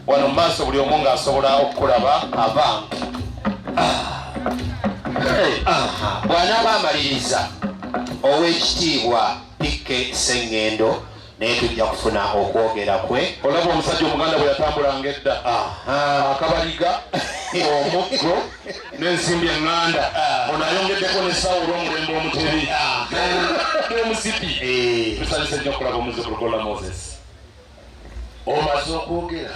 wano mu maaso buli omu ng'asobola okukulaba abantu bw'anaaba amaliriza ow'ekitiibwa pikke sengendo naye tujja kufuna okwogera kwe olaba omusajja omuganda bwe yatambulanga edda akabaliga omuggo n'ensimbi eŋŋanda ah. ono ayongeddeko nesawo olw'omulembe omutebi ah. n'omusipi eh. tusanyuse nnyo okulaba omuzukulu gola moses omaze okwogera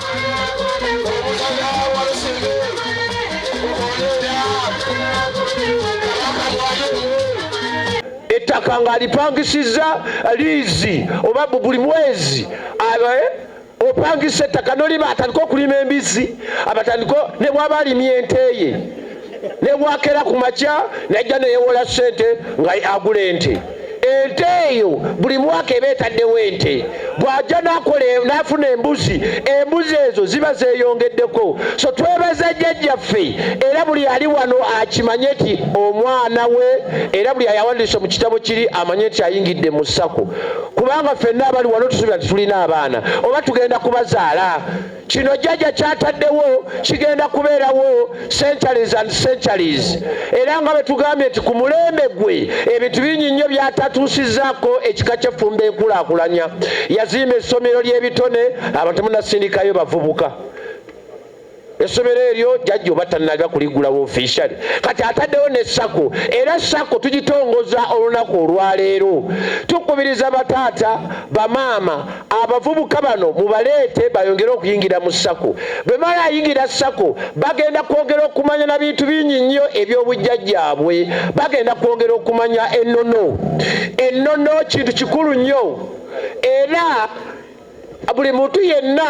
ettaka ng'alipangisizza liizi oba buli mwezi opangisa ettaka noliba atandika okulima embizzi abatandika ne bwaba alimye enteye nebwakera ku makya najja neyewola sente nga agula ente ente eyo buli mwaka eba etaddewo ente bw'ajja nakola n'afuna embuzi embuzi ezo ziba zeeyongeddeko so twebaza jjajjaffe era buli ali wano akimanye nti omwana we era buli ayawandiisa mu kitabo kiri amanye nti ayingidde mu sako kubanga ffenna abali wano tusuubira nti tulina abaana oba tugenda kubazaala kino jjaja kyataddewo kigenda kubeerawo centuries and centuries era nga bwetugambye nti ku mulembe gwe ebintu bingi nnyo byatatuusizaako ekika kyeffumba enkulakulanya yazimba essomero ly'ebitone abantu munasindikayo bavubuka essomero eryo jajja oba tanaga kuligulawo officially kati ataddewo ne sako era sako tugitongoza olunaku olwaleero tukubiriza bataata bamaama abavubuka bano mubaleete bayongere okuyingira mu sako bwe mala ayingira sako bagenda kwongera okumanya na bintu bingi nnyo eby'obujjajjaabwe bagenda kwongera okumanya ennono ennono kintu kikulu nnyo era buli muntu yenna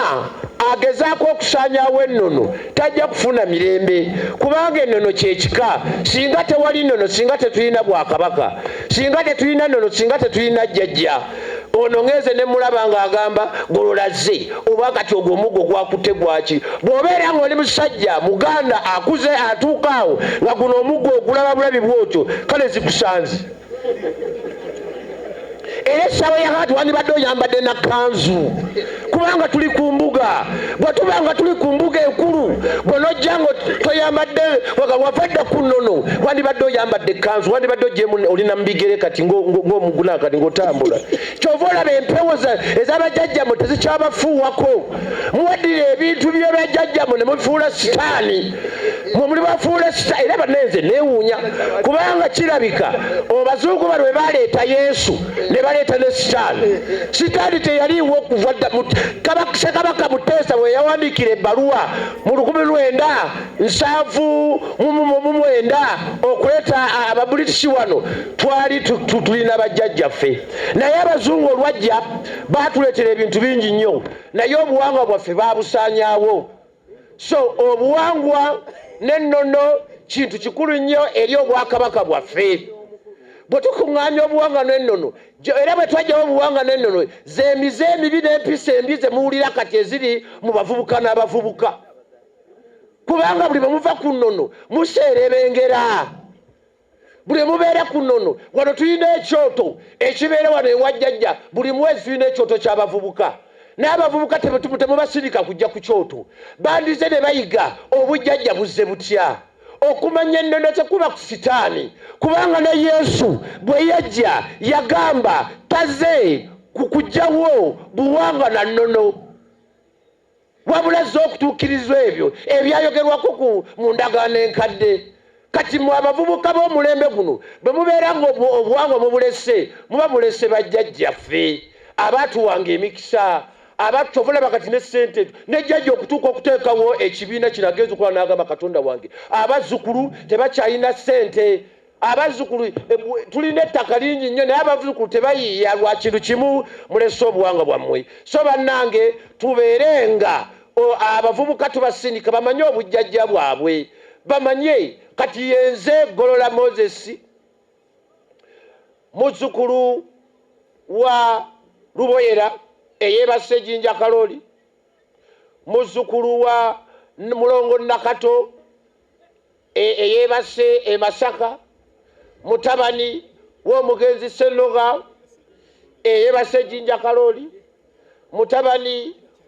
agezaako okusaanyawo ennono tajja kufuna mirembe kubanga ennono kyekika singa tewali nnono singa tetulina bwakabaka singa tetulina nnono singa tetulina jjajja ono ngenze ne mulaba ng'agamba gololazze oba kati ogwo omuggo gwakutte gwaki bw'obeera ng'oli musajja muganda akuze atuuka awo nga guno omuggo ogulaba bulabi bwotyo kale zikusanze era essaawa yakati wandibadde oyambadde nakanzu kubanga tuli ku mbuga bwe tuba nga tuli ku mbuga enkulu bwonojja nga toyambadde wavadda ku nnono wandibadde oyambadde ekkanzu wandibadde ojemu oli namubigere kati ng'omuguna kati ng'otambula kyova olaba empewo ez'abajajjamwe tezikyabafuuwako muwaddira ebintu by'abajajjamwe ne mubifuula sitaani mwe muli bafuula essita era banenze neewuunya kubanga kirabika obazuugu bano bwe baleeta yesu ne baleeta ne sitaani sitaani teyaliiwo okuva kabaka muteesa bwe yawandiikira ebbaluwa mu lukumi lwenda nsanvu mu mwenda okuleeta ababulitisi wano twali tulina bajjajjaffe naye abazungu olwajja baatuleetera ebintu bingi nnyo naye obuwangwa bwaffe baabusaanyaawo so obuwangwa n'ennono kintu kikulu nnyo eri obwakabaka bwaffe bwe tukuŋŋaanya obuwanga n'ennono era bwe twajjawo obuwanga n'ennono z'emize emibi n'empisa embi ze muwulira kati eziri mu bavubuka n'abavubuka kubanga buli bwe muva ku nnono museerebengera buli mubeera ku nono wano tulina ekyoto ekibeera wano ewajjajja buli mwezi tulina ekyoto kyabavubuka n'abavubuka temubasirika kujja ku kyoto bandize ne bayiga obujjajja buzze butya okumanya ennono tekuba ku sitaani kubanga ne yesu bwe yajja yagamba taze kukujjawo buwanga na nnono wabula azze okutuukirizwa ebyo ebyayogerwako ku mu ndagaano enkadde kati mwe abavubuka b'omulembe guno bwe mubeera nga obuwangwa mubulese muba mulese bajjajjaffe abaatuwanga emikisa abattovolaba kati ne sente ezo nejjajja okutuuka okuteekawo ekibiina kino agenza okukola n'agamba katonda wange abazzukulu tebakyalina sente abazzukulu eh, tulina ettaka lingi nnyo naye abazzukulu tebayiiya lwa kintu kimu mulese obuwanga bwammwe so bannange tubeere nga abavubuka tubasindika bamanye obujjajja bwabwe bamanye kati yenze golola moses muzzukulu wa luboyera eyebasa ejinja kaloli muzzukulu wa mulongo nakato E, eyeebase e Masaka mutabani w'omugenzi Ssennoga eyeebase Jinja Kalooli mutabani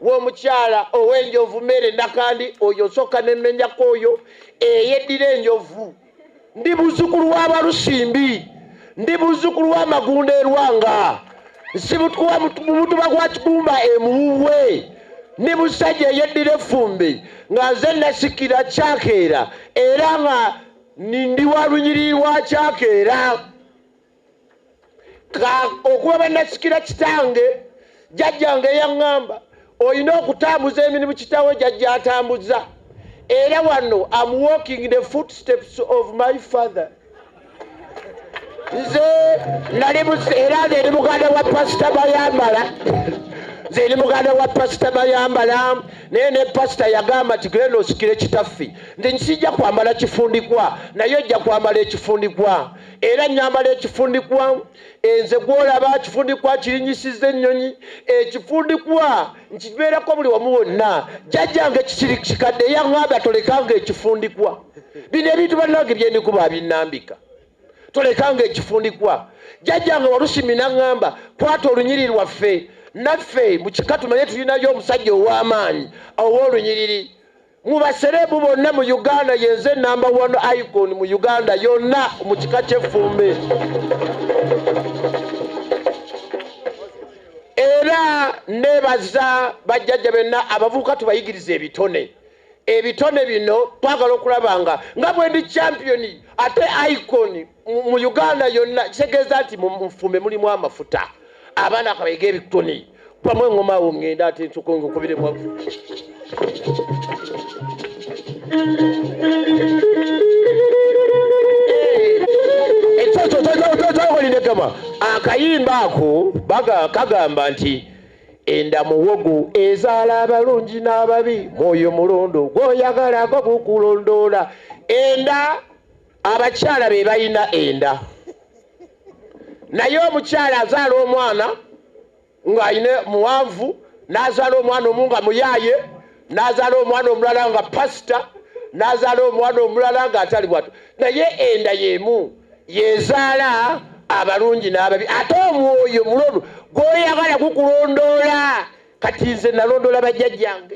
w'omukyala ow'enjovu Mere Nakandi oyo nsooka ne mmenyako oyo eyeddira enjovu ndi muzukulu w'Abalusimbi. ndi muzzukulu wa magunda erwanga nsibutwa mu mutuba gwa kigumba emuwuwe ndi musajja eyeddira effumbi nga nze nasikira kyakeera era nga ndi wa lunyiriri lwa kyakeera okuba banasikira kitange jjajjange yaŋŋamba olina okutambuza emirimu kitawo jjajja atambuza era wano am walking the footsteps of my father nze nali era nze ndi muganda wa pasita bayambala nze ndi muganda wa pasita bayambala naye ne pasita yagamba nti genda osikire kitaffe nze nkijja kwambala kifundikwa naye ojja kwambala ekifundikwa era nyambala ekifundikwa Enze gwolaba akifundikwa akirinyisiza ennyonyi ekifundikwa nkibeerako buli wamu wonna jjajjange kikiri kikadde eyaŋŋamba tolekanga ekifundikwa bino ebintu bannange byendikuba abinnambika tolekanga ekifundikwa jjajjange walusimi naŋŋamba kwata olunyiri lwaffe naffe mu kika tumanye tulinayo omusajja ow'amaanyi ow'olunyiriri mu basereebu bonna mu uganda yenze namba one icon mu uganda yonna mu kika ky'effumbe era nebaza bajjajja benna abavubuka tubayigiriza ebitone ebitone bino twagala okulaba nga nga bwendi champiyoni ate iconi mu uganda yonna kitegeeza nti mufumbe mulimu amafuta abaana kabayega ebikoni bamu engoma awo ngenda ate ntukunkubiremu ekyokyokyolinegama akayimba ako kagamba nti enda muwogo ezaala abalungi n'ababi mwoyo mulondo gwoyagala gwo gukulondoola enda abakyala be balina enda naye omukyala azaala omwana ng'alina muwanvu n'azaala omwana omu nga muyaaye n'azaala omwana omulala nga pasita n'azaala omwana omulala ng'atali bwatu naye enda y'emu yezaala abalungi n'ababi ate omwoyo mulolu gw'oyagala gukulondoola kati nze nalondoola bajjajjange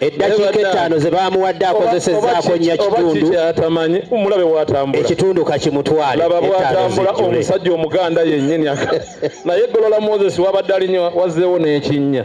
eddakiika ettaano ze baamuwadde akozesezzaako nnya kitundu ekitundu kakimutwale laba bwatambula omusajja omuganda yennyini naye golola moses wabadde alinywa wazzeewo n'ekinnya